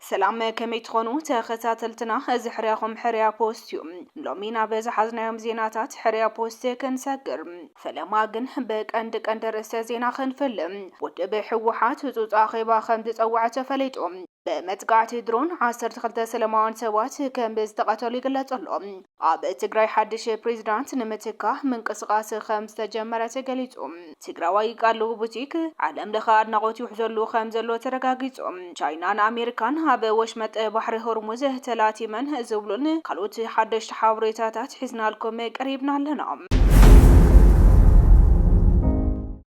ሰላም ከመይ ትኾኑ ተኸታተልትና፣ እዚ ሕርያኹም ሕርያ ፖስት እዩ። ሎሚ ናብ ዝሓዝናዮም ዜናታት ሕርያ ፖስት ክንሰግር ፈለማ ግን ብቀንዲ ቀንዲ ርእሰ ዜና ክንፍልም ውድብ ህወሓት ህፁፅ ኣኼባ ከም ዝፀወዐ ተፈሊጡ። ብመጥቃዕቲ ድሮን ዓሰርተ ክልተ ሰለማውያን ሰባት ከም ዝተቐተሉ ይግለጽ ኣሎ። ኣብ ትግራይ ሓድሽ ፕሬዚዳንት ንምትካእ ምንቅስቓስ ከም ዝተጀመረ ተገሊጹ። ትግራዋይ ቃሉ ቡቲክ ዓለም ለኸ ኣድናቖት ይውሕዘሉ ከም ዘሎ ተረጋጊጹ። ቻይናን ኣሜሪካን ኣብ ወሽመጥ ባሕሪ ሆርሙዝ ተላቲመን ዝብሉን ካልኦት ሓደሽቲ ሓበሬታታት ሒዝናልኩም ቀሪብና ኣለና።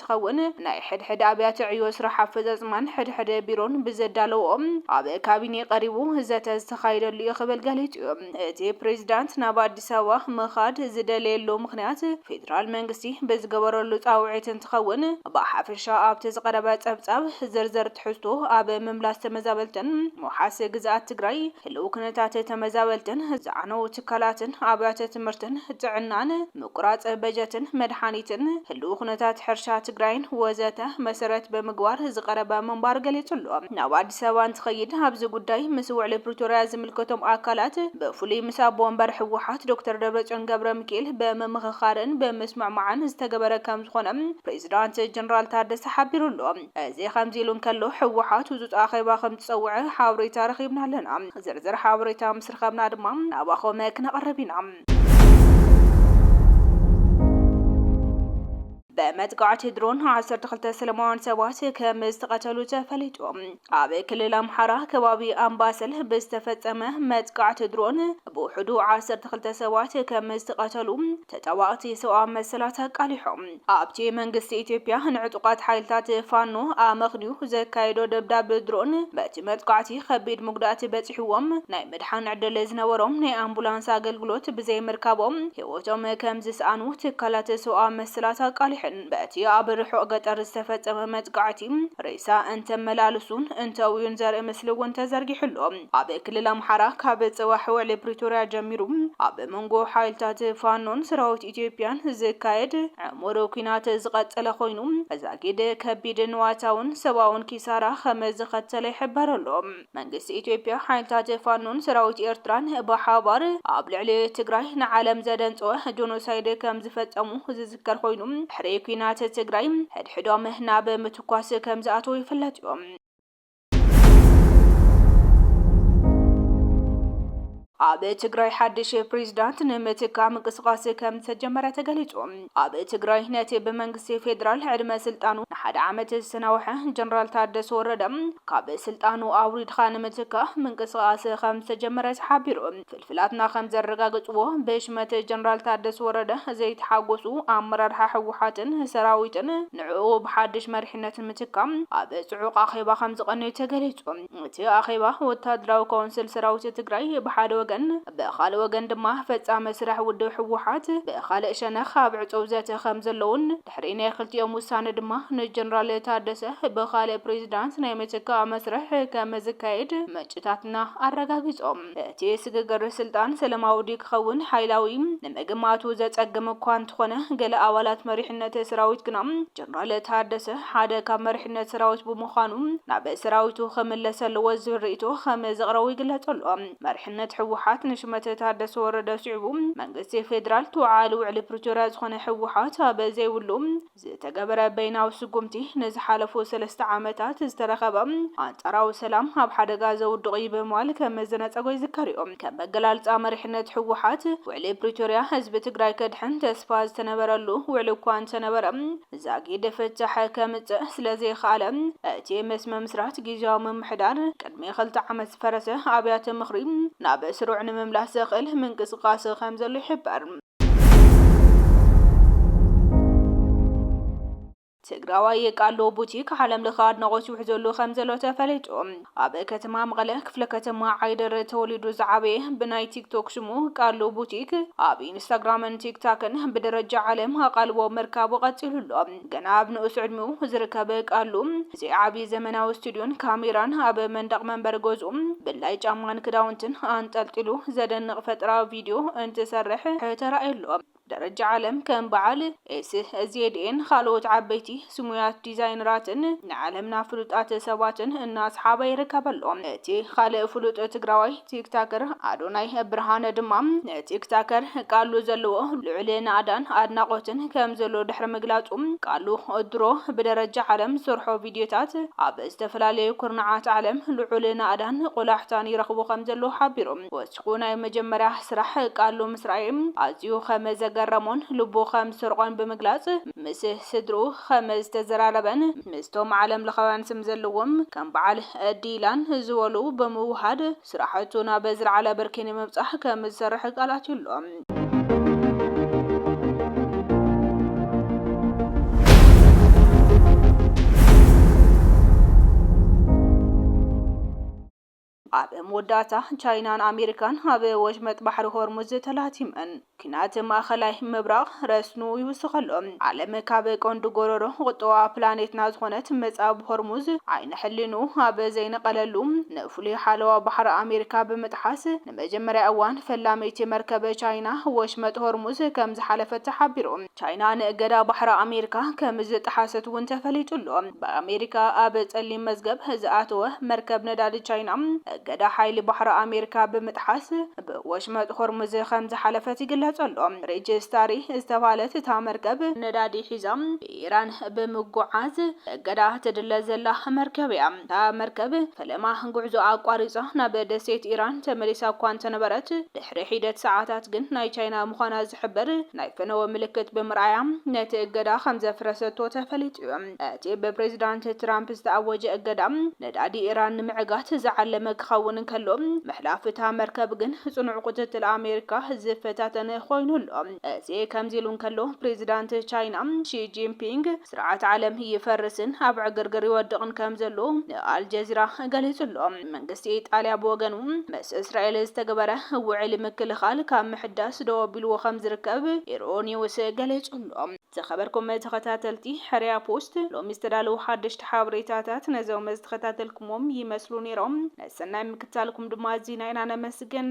እንትኸውን፣ ናይ ሕድሕድ ኣብያተ ዕዮ ስራሕ ኣፈፃፅማን ሕድሕድ ቢሮን ብዘዳለውኦ ኣብ ካቢኔ ቀሪቡ ዘተ ዝተኻየደሉ ኢዩ ክብል ገሊፁ ኢዩ። እቲ ፕሬዚዳንት ናብ ኣዲስ ኣበባ ምኻድ ዝደለየሉ ምኽንያት ፌዴራል መንግስቲ ብዝገበረሉ ፃውዒት እንትኸውን፣ ብሓፈሻ ኣብቲ ዝቐረበ ፀብፃብ ዝርዝር ትሕዝቶ ኣብ ምምላስ ተመዛበልትን መውሓሲ ግዝኣት ትግራይ ህልው ኩነታት ተመዛበልትን ዝዓነው ትካላትን ኣብያተ ትምህርትን ጥዕናን ምቁራፅ በጀትን መድሓኒትን፣ ህልው ኩነታት ሕርሻ ትግራይን ወዘተ መሰረት ብምግባር ዝቐረበ ምንባር ገሊፁ ኣሎ። ናብ ኣዲስ ኣበባ እንትኸይድ ኣብዚ ጉዳይ ምስ ውዕሊ ፕሪቶርያ ዝምልከቶም ኣካላት ብፍሉይ ምስ ኣቦ ወንበር ህወሓት ዶክተር ደብረፅዮን ገብረሚኪኤል ብምምኽኻርን ብምስምዕማዕን ዝተገበረ ከምዝኾነ ፕሬዚዳንት ጀነራል ታደሰ ሓቢሩ ኣሎ። እዚ ከምዚ ኢሉ እንከሎ ህወሓት ህፁፅ ኣኼባ ከምዝፀውዐ ሓበሬታ ረኺብና ኣለና። ዝርዝር ሓበሬታ ምስ ረኸብና ድማ ናባኹም ክነቕርብ ኢና። ብመጥቃዕቲ ድሮን ዓሰርተ ክልተ ሰለማውያን ሰባት ከም ዝተቐተሉ ተፈሊጡ። ኣብ ክልል ኣምሓራ ከባቢ ኣምባሰል ብዝተፈጸመ መጥቃዕቲ ድሮን ብውሕዱ ዓሰርተ ክልተ ሰባት ከም ዝተቐተሉ ተጣባቕቲ ሰብኣዊ መሰላት ኣቃሊሖም። ኣብቲ መንግስቲ ኢትዮጵያ ንዕጡቓት ሓይልታት ፋኖ ኣመኽንዩ ዘካየዶ ደብዳብ ድሮን በቲ መጥቃዕቲ ከቢድ መጉዳእቲ በጺሕዎም ናይ ምድሓን ዕድል ዝነበሮም ናይ ኣምቡላንስ ኣገልግሎት ብዘይምርካቦም ህይወቶም ከምዝስኣኑ ትካላት ሰውኣዊ መሰላት ኣቃሊሐን። በቲ ኣብ ርሑቕ ገጠር ዝተፈጸመ መጥቃዕቲ ሬሳ እንተመላልሱን እንተእውዩን ዘርኢ ምስሊ እውን ተዘርጊሑ ኣሎ። ኣብ ክልል ኣምሓራ ካብ ጽባሕ ውዕሊ ፕሪቶርያ ጀሚሩ ኣብ መንጎ ሓይልታት ፋኖን ሰራዊት ኢትዮጵያን ዝካየድ ዕሙር ኲናት ዝቐጸለ ኮይኑ፣ ዛጊድ ከቢድ ንዋታውን ሰብኣውን ኪሳራ ከም ዘኸተለ ይሕበር ኣሎ። መንግስቲ ኢትዮጵያ፣ ሓይልታት ፋኖን ሰራዊት ኤርትራን ብሓባር ኣብ ልዕሊ ትግራይ ንዓለም ዘደንጸወ ጆኖሳይድ ከም ዝፈጸሙ ዝዝከር ኮይኑ፣ ድሕሪ ኲናት ትግራይ ሕድሕዶም ናብ ምትኳስ ከም ዝኣተዉ ይፍለጥ'ዩ። ኣብ ትግራይ ሓድሽ ፕሬዚዳንት ንምትካ ምንቅስቃስ ከም ዝተጀመረ ተገሊጹ። ኣብ ትግራይ ነቲ ብመንግስቲ ፌዴራል ዕድመ ስልጣኑ ንሓደ ዓመት ዝተናውሐ ጀነራል ታደሰ ወረደ ካብ ስልጣኑ ኣውሪድካ ንምትካእ ምንቅስቃስ ከም ዝተጀመረ ተሓቢሩ። ፍልፍላትና ከም ዘረጋገፅዎ ብሽመት ጀነራል ታደስ ወረደ ዘይተሓጎሱ ኣመራርሓ ህወሓትን ሰራዊትን ንዕኡ ብሓዱሽ መሪሕነት ምትካእ ኣብ ፅዑቕ ኣኼባ ከም ዝቐነዩ ተገሊፁ። እቲ ኣኼባ ወታደራዊ ካውንስል ሰራዊት ትግራይ ብሓደ ወገን ብኻልእ ወገን ድማ ፈፃሚ ስራሕ ውድብ ህወሓት ብኻልእ ሸነኽ ኣብ ዕፁው ዘተ ከም ዘለዉን ድሕሪ ናይ ክልቲኦም ውሳነ ድማ ንጀነራል ታደሰ ብኻልእ ፕሬዚዳንት ናይ ምትካእ መስርሕ ከምዝካየድ ምንጭታትና ኣረጋጊፆም። እቲ ስግግር ስልጣን ሰለማዊ ድዩ ክኸውን ሓይላዊ ንምግማቱ ዘፀግም እኳ እንተኾነ ገለ ኣባላት መሪሕነት ሰራዊት ግና ጀነራል ታደሰ ሓደ ካብ መሪሕነት ሰራዊት ብምዃኑ ናብ ሰራዊቱ ክምለስ ኣለዎ ዝብል ሪኢቶ ከምዘቕረቡ ይግለፅ ኣሎ። መሪሕነት ህወሓት ንሹመት ታደሰ ወረደ ስዒቡ መንግስቲ ፌዴራል ተወዓዓሊ ውዕሊ ፕሪቶሪያ ዝኾነ ህወሓት ኣብ ዘይብሉ ዝተገበረ በይናዊ ስጉምቲ ንዝሓለፉ ሰለስተ ዓመታት ዝተረኸበ ኣንፃራዊ ሰላም ኣብ ሓደጋ ዘውድቕ እዩ ብምባል ከም መዘናፀጎ ይዝከር እዩ። ከም ኣገላልፃ መሪሕነት ህወሓት ውዕሊ ፕሪቶሪያ ህዝቢ ትግራይ ከድሕን ተስፋ ዝተነበረሉ ውዕሊ እኳ እንተነበረ ዛጊድ ፍታሕ ከምፅእ ስለዘይኸኣለ እቲ ምስ ምምስራት ጊዚያዊ ምምሕዳር ንክልተ ዓመት ዝፈረሰ ኣብያተ ምኽሪ ናብ ስሩዕ ንምምላስ ዘኽእል ምንቅስቓስ ከምዘሎ ይሕበር። ትግራዋይ የቃሎ ቡቲክ ዓለም ለኸ ኣድናቖት ይውሕዘሉ ከምዘሎ ተፈሊጡ። ኣብ ከተማ መቐለ ክፍለ ከተማ ዓይደር ተወሊዱ ዝዓበየ ብናይ ቲክቶክ ሽሙ ቃሉ ቡቲክ ኣብ ኢንስታግራምን ቲክታክን ብደረጃ ዓለም ኣቓልቦ ምርካቡ ቀፂሉ ኣሎ። ገና ኣብ ንኡስ ዕድሚኡ ዝርከብ ቃሉ፣ እዚ ዓቢ ዘመናዊ ስቱድዮን ካሜራን፣ ኣብ መንደቕ መንበሪ ገዝኡ ብላይ ጫማን ክዳውንትን ኣንጠልጢሉ ዘደንቕ ፈጠራዊ ቪድዮ እንትሰርሕ ተራእዩ ኣሎ። ደረጃ ዓለም ከም በዓል SZAን ካልኦት ዓበይቲ ስሙያት ዲዛይነራትን ንዓለምና ፍሉጣት ሰባትን እናስሓበ ይርከብ ኣሎ። እቲ ካልእ ፍሉጥ ትግራዋይ፣ ቲክታከር ኣዶናይ ብርሃነ ድማ ንቲክታከር ቃሉ ዘለዎ ልዑል ናእዳን ኣድናቖትን ከምዘሎ ድሕሪ ምግላጹ፣ ቃሉ ድሮ ብደረጃ ዓለም ዝሰርሖ ቪድዮታት ኣብ ዝተፈላለዩ ኩርናዓት ዓለም ልዑል ናእዳን ቆላሕታን ይረኽቦ ከምዘሎ ሓቢሩ። ወሲኹ ናይ መጀመርያ ስራሕ ቃሉ ምስ ረኣየ ኣዝዩ ከምዘገረሞን ልቡ ከምዝሰርቖን ብምግላጽ፣ ምስ ስድርኡ ከምዝተዘራረበን፣ ምስቶም ዓለምለኻውያን ስም ዘለዎም ከም በዓል ዲላን ዝበሉ ብምውሃድ ስራሕቱ ናብ ዝለዓለ ብርኪ ንምብፃሕ ከምዝሰርሕ ቃል ኣትዩ ኣሎ። ኣብ መወዳእታ፣ ቻይናን ኣሜሪካን ኣብ ወሽመጥ ባሕሪ ሆርሙዝ ተላቲመን፣ ኲናት ማእከላይ ምብራቕ ረስኑ ይውስኽ ኣሎ። ዓለም ካብ ቀንዲ ጎረሮ ቁጠባ ፕላኔትና ዝኾነት ምዕጻብ ሆርሙዝ ዓይኒ ሕሊንኡ ኣብ ዘይነቐለሉ፣ ንፍሉይ ሓለዋ ባሕሪ ኣሜሪካ ብምጥሓስ፣ ንመጀመርያ እዋን ፈላመይቲ መርከብ ቻይና ወሽመጥ ሆርሙዝ ከምዝሓለፈት ተሓቢሩ። ቻይና ንእገዳ ባሕሪ ኣሜሪካ ከምዝጠሓሰት'ውን ተፈሊጡ ኣሎ። ብኣሜሪካ ኣብ ጸሊም መዝገብ ዝኣተወ መርከብ ነዳዲ ቻይና፣ እገዳ ሓይሊ ባሕሪ ኣሜሪካ ብምጥሓስ ብወሽመጥ ሆርሙዝ ከምዝሓለፈት ይግለጽ ኣሎ። ሪች ስታሪ ዝተባህለት እታ መርከብ፣ ነዳዲ ሒዛ ብኢራን ብምጉዓዝ እገዳ ትድለ ዘላ መርከብ'ያ። እታ መርከብ ፈለማ ጉዕዞኣ ኣቋሪጻ ናብ ደሴት ኢራን ተመሊሳ እኳ እንተነበረት፣ ድሕሪ ሒደት ሰዓታት ግን ናይ ቻይና ምዃና ዝሕብር ናይ ፈነወ ምልክት ብምርኣያ ነቲ እገዳ ከምዘፍረሰቶ ተፈሊጡ'ዩ። እቲ ብፕሬዝዳንት ትራምፕ ዝተኣወጀ እገዳ፣ ነዳዲ ኢራን ንምዕጋት ዝዓለመ ክኸውን እንከሎ፣ ምሕላፍ እታ መርከብ ግን ጽኑዕ ቁጽጽል ኣሜሪካ ዝፈታተን ኮይኑ ኣሎ። እዚ ከምዚ ኢሉ እንከሎ ፕሬዚዳንት ቻይና ሺ ጂንፒንግ ስርዓት ዓለም ይፈርስን ኣብ ዕግርግር ይወድቕን ከምዘሎ ንኣልጀዚራ ገሊፁ ኣሎ። መንግስቲ ኢጣልያ ብወገኑ ምስ እስራኤል ዝተገበረ ውዕሊ ምክልኻል ካብ ምሕዳስ ደው ኣቢልዎ ከምዝርከብ ኢሮኒውስ ገሊፁ ኣሎ። ዝኸበርኩም ተኸታተልቲ ሕርያ ፖስት ሎሚ ዝተዳለዉ ሓደሽቲ ሓበሬታታት ነዞም ዝተኸታተልኩምዎም ይመስሉ ነይሮም። ንሰናይ ምክትታልኩም ድማ ኣዚና ኢና ነመስግን።